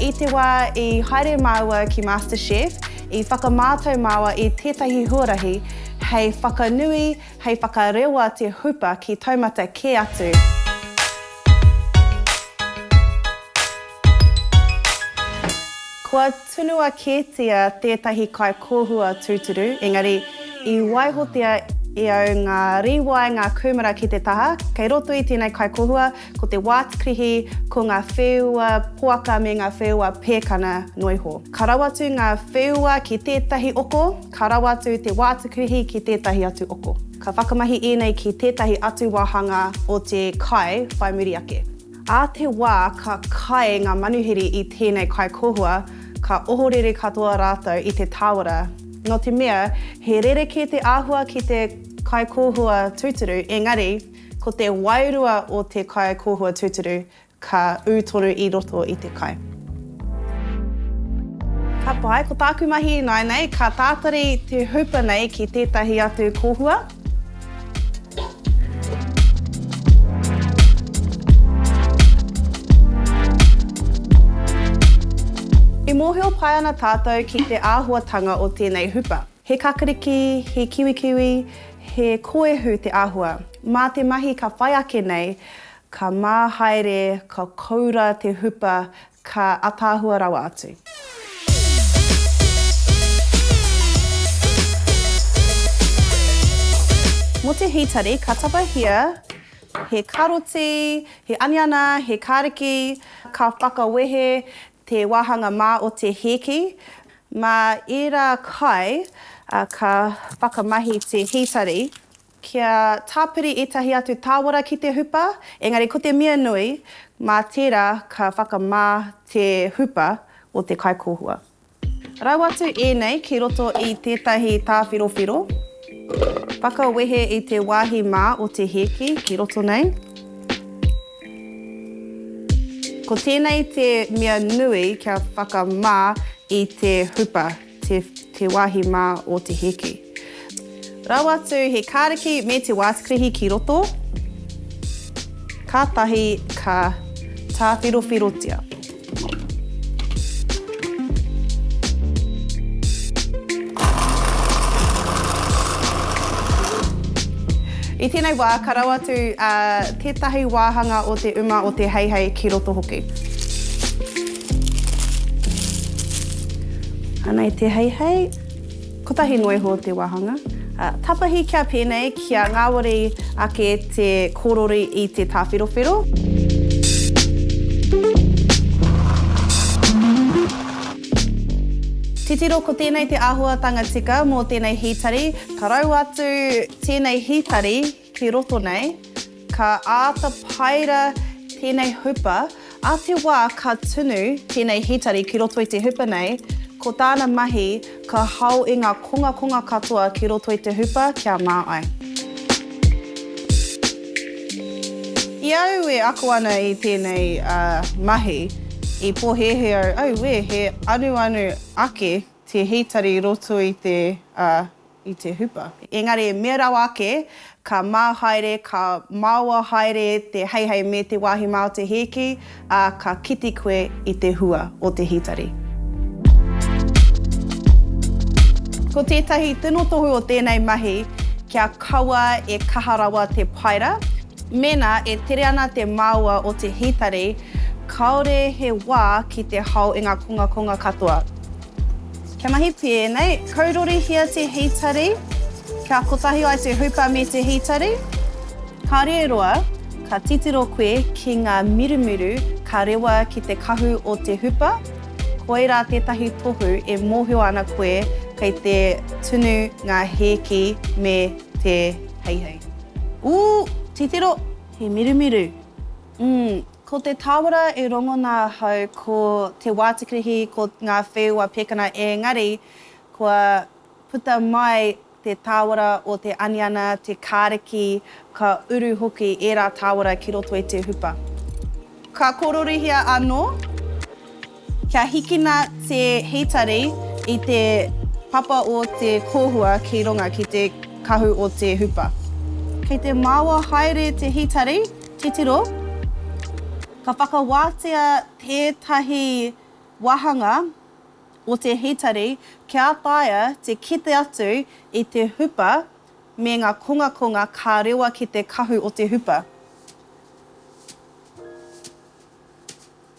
I te wā i haere māua ki MasterChef, i whakamātau māua i tētahi huarahi hei whakanui, hei whakarewa te hupa ki taumata kē atu. Kua tunua kētia tētahi kaikōhua tūturu, engari i waihotia e au ngā rīwae, ngā kūmara ki te taha. Kei roto i tēnei kaikōhua, Ko te wātqrihi, ko ngā wheua poaka me ngā wheua pēkana noa iho. Ka rawa atu ngā wheua ki tētahi oko, ka rawa atu te wātqrihi ki tētahi atu oko. Ka whakamahi ēnei ki tētahi atu wāhanga o te kai whai muri ake. Ā te wā ka kai ngā manuhiri i tēnei kai kohua, ka ohorere katoa rātou i te tāwara. Nō te mea, he rerekē te āhua ki te kai kohua tūturu, engari, Ko te wairua o te kai kōhua tūturu ka ū tonu i roto i te kai. Ka pai, ko tāku mahi ināinei, ka tātari te hupa nei ki tētahi atu kōhua. E mōhio pai ana tātou ki te āhuatanga o tēnei hupa. He kakariki, he kiwikiwi, he koehu te āhua. Mā te mahi ka whai ake nei, ka mā haere, ka koura te hupa, ka ataahua rawa atu. Mō te hītari, ka tapahia he karoti, he aniana, he kariki, ka whakawehe Te wāhanga mā o te hēki. Mā ērā kai ka whakamahi te hītari. Kia tāpiri ētahi atu tāwara ki te hupa, engari ko te mea nui, mā tērā ka whakamā te hupa o te kaikōhua. Rau atu ēnei ki roto i tētahi tāwhirowhiro. Whakawehe i te wāhi mā o te hēki ki roto nei. Ko tēnei te mea nui kia whakamā i te hupa, te, te wāhi mā o te heke. Rau atu he kāriki me te wātikrihi ki roto, kātahi ka tāwhirowhirotia. I tēnei wā, ka rau atu tētahi wāhanga o te uma o te heihei ki roto hoki. Anei te heihei. Kotahi noa iho te wāhanga tapahi kia pēnei, kia ngāwari ake te kōrori i te tāwherowhero. Titiro ko tēnei te āhuatanga tika mō tēnei hītari, ka raua atu tēnei hītari Ki roto nei, ka āta paera tēnei hupa, ā te wā ka tunu tēnei hītari ki roto i te hupa nei, ko tāna mahi ka hao i ngā kongakonga katoa ki roto i te hupa kia mā ai. I au e ako ana i tēnei mahi, i pōhēhē au, auē, he anuanu ake te hītari i roto i te i te hupa. Engari e mea rawa ake, ka mā haere, ka maoa haere te heihei me te wāhi mā o te hēki, ā, ka kite koe i te hua o te hītari. Ko tētahi tino tohu o tēnei mahi, kia kaua e kaha rawa te paera, mēnā e tere ana te maoa o te hītari, kāore he wā ki te hao i ngā kongakonga katoa. Kia mahi pēnei, kaurorihia te hītari, kia kotahi ai te hupa me te hītari. Kāore e roa, ka titiro koe ki ngā mirumiru ka rewa ki te kahu o te hupa, koirā tētahi tohu e mōhio ana koe kei te tunu ngā hēki me te heihei. Ū! Titiro, he mirumiru! Umm, ko te tāwara e rongona ahau ko te wātikirihi ko ngā wheua pekana ēngari kua puta mai te tāwara o te aniana, te kāriki, ka uru hoki ērā tāwara ki roto i te hupa. Ka kororihia anō. Kia hikina te hītari i te papa o te kōhua ki runga ki te kahu o te hupa. Kei te maoa haere te hītari, titiro, ka whakawātea tētahi wāhanga o te hītari kia taea te kite atu i te hupa me ngā kongakonga ka rewa ki te kahu o te hupa.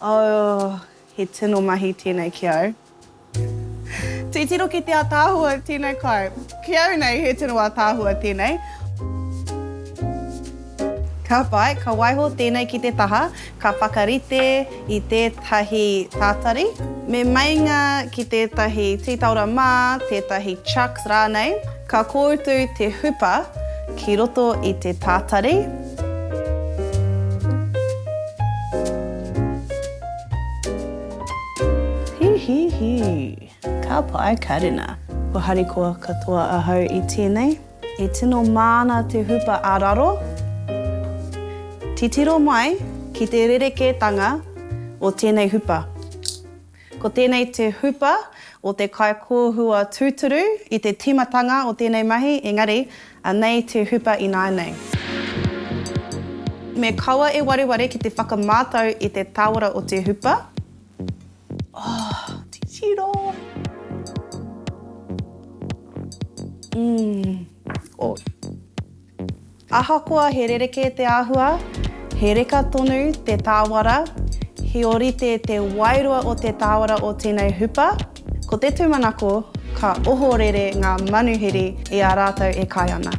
Oh, he tino mahi tēnei ki au. Titiro ki te ataahua tēnei kai. Ki au nei, he tino ataahua tēnei. Ka pai, ka waiho tēnei ki te taha, ka whakarite i tētahi tātari. Me meinga ki tētahi tītaora mā, tētahi chucks rānei. Ka kōutu te hupa ki roto i te tātari. Hihihi! Ka pai karena! Kua harikoa katoa ahau i tēnei. E tino māna te hupa a raro. Titiro mai ki te rerekētanga o tēnei hupa. Ko tēnei te hupa o te kaikōhua tūturu i te tīmatanga o tēnei mahi, engari, anei te hupa ināianei. Me kaua e wareware ki te whakamātau i te tāwara o te hupa. Oh, titiro! Umm, oh. Ahakoa he rerekē te āhua, he reka tonu te tāwara, he ōrite te wairua o te tāwara o tēnei hupa, ko te tūmanako ka ohorere ngā manuhiri i a rātou e kai ana.